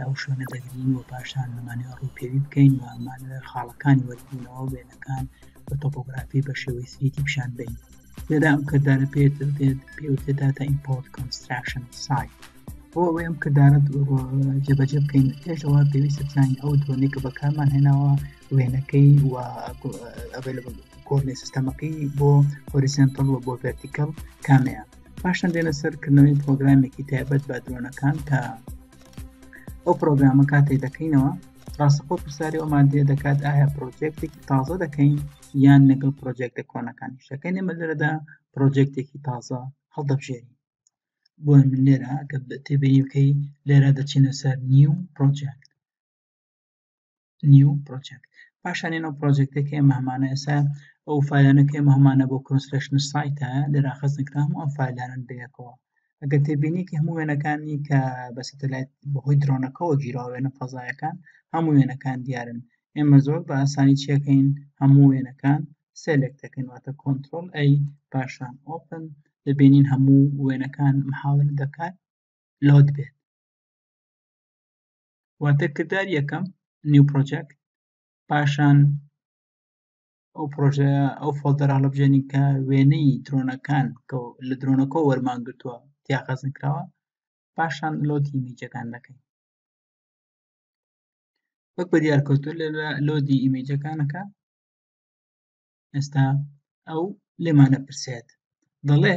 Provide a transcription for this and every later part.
ئەو شوێنە دەگرین و پاشان دەمانەوێت ڕووپێوی بکەین و ئەمانەوێت خاڵەکانی وەربوونەوە وێنەکان بە تۆپۆگرافی بە شێوەی سریتی پیشان بین لێرا ئەم کردارە پێت دێت پێوتێ داتا ئیمپۆرت کۆنستراکشن سایت بۆ ئەوەی ئەم کردارە جێبەجێ بکەین پێشەوە پێویستە بزانین ئەو درۆنێک کە بەکارمان هێناوە وێنەکەی و ئەبێ لە کۆرنی سیستەمەکەی بۆ هۆریسنتڵ و بۆ ڤەرتیکەڵ کامەیە پاشان دێنە سەر کردنەوەی پرۆگرامێکی تایبەت بە درۆنەکان کە ئەو پرۆگرامە کاتێ دەکەینەوە ڕاستەخۆ پرسیاری ئەومان دێ دەکات ئایا پرۆجێکتێکی تازە دەکەین یان لەگەڵ پرۆجێکتە کۆنەکان شەکەین ئەمە لەرەدا پرۆجێکتێکی تازە هەڵدەبژێری بۆ من لێرە کە تێبینی بکەی لێرە دەچینە سەر نیو پرۆجێکت نیو پرۆجێکت پاشان ئێنە پرۆجێکتێک کە ئێمە هەمانە ئێستا ئەو فایلانە کە ئێمە هەمانە بۆ کۆنسلشن سایتە لێرا خەزن کرا هەموو ئەم فایلانن بەیەکەوە ئەگەر تێبینێکی هەموو وێنەکانی کە بە سەتەلایت بەهۆی درۆنەکەەوە گیراوە وێنە فەزایەکان هەموو وێنەکان دیارن ئێمە زۆر بە ئاسانی چیەکەین هەموو وێنەکان سێلێک دەکەین واتە کۆنتترۆل ئەی پاشان ئۆپن دەبینین هەموو وێنەکان محاول دەکات لۆت بێت واتە کردار یەکەم نیو پرۆجەکت پاشان ئەو پرۆژە ئەو فۆلدەرا لە بژێنین کە وێنەی درۆنەکان کە لە درۆنەکە وەرمان گرتووە تیاخەزن کراوە پاشان لۆتی میجەکان دەکەین وەک بە دیارکەوتو لە لۆدی ئیمەجەکانەکە ئێستا ئەو لێمانە پرسێت دەڵێ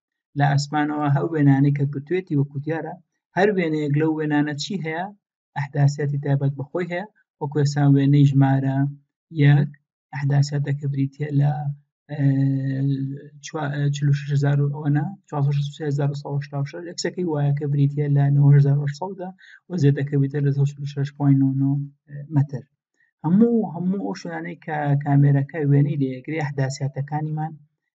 لە ئاسمانەوە هەو وێنانەی کە گرتوێتی وەکو دیارە هەر وێنەیەک لەو وێنانە چی هەیە ئەحداسیاتی تایبەت بەخۆی هەیە وەکو ئێسان وێنەی ژمارە یەک ئەحداسیاتەکە بریتە لە ئەکسەکەی وایەکە بریتە لە 1970دا و زێتەکە بێتە لە 6.9 متر هەموو هەموو ئەو شوانەی کە کامێرەکە وێنەی لێگرێ حداسیاتەکانیمان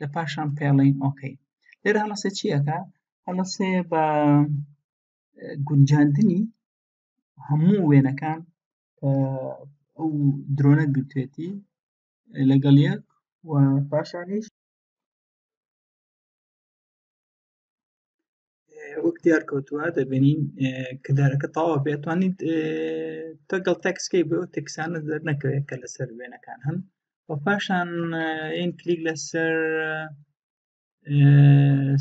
لە پاشان پێڵین ئۆکەی لێرە هەڵەسێ چیەکە هەڵەسێ بە گونجاندنی هەموو وێنەکان ئەو درۆنە گرتێتی لەگەڵ یەک و پاشانیش وەک دیار کەوتووە دەبینین کردارەکە تاوا بێتوانیت تەگەڵ تەکسکەی بۆ تەکسانە دەر نەکەوێت کە لەسەر وێنەکان هەن و پاشان ئین کلیک لەسەر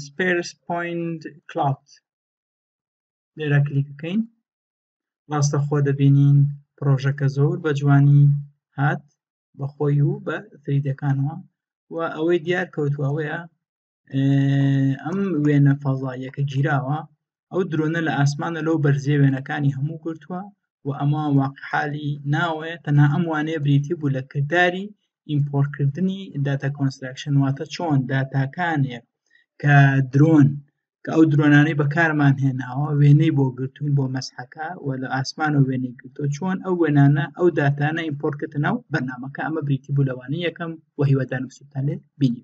سپێرس پوینت کلاات لێرا کلیک بکەین ڕاستە خۆ دەبینین پرۆژەکە زۆر بە جوانی هات بەخۆی و بە تریدەکانەوە و ئەوەی دیار کەوتوەوەیە ئەم وێنە فەزاییەکە گیراوە ئەو درۆنە لە ئاسمانە لەو بەرزێ وێنەکانی هەموو گرتووە و ئەمە واقحالی ناوەیە تەنها ئەم وانەیە بریتی بوو لە کردداری ئیمپۆرکردنی داتا کۆنستراکشن واتە چۆن داتاکانێک کە درۆن کە ئەو درۆنانەی بەکارمان هێناوە وێنەی بۆ گرتوون بۆ مەسحەکە و لە ئاسمان و وێنەی گرتۆ چۆن ئەو وێنانە ئەو داتانە ئیمپۆرکردنەوە بەنامەکە ئەمە بریتی بوو لەوانەیە یەکەم و هیوادارم سوتانێت بینی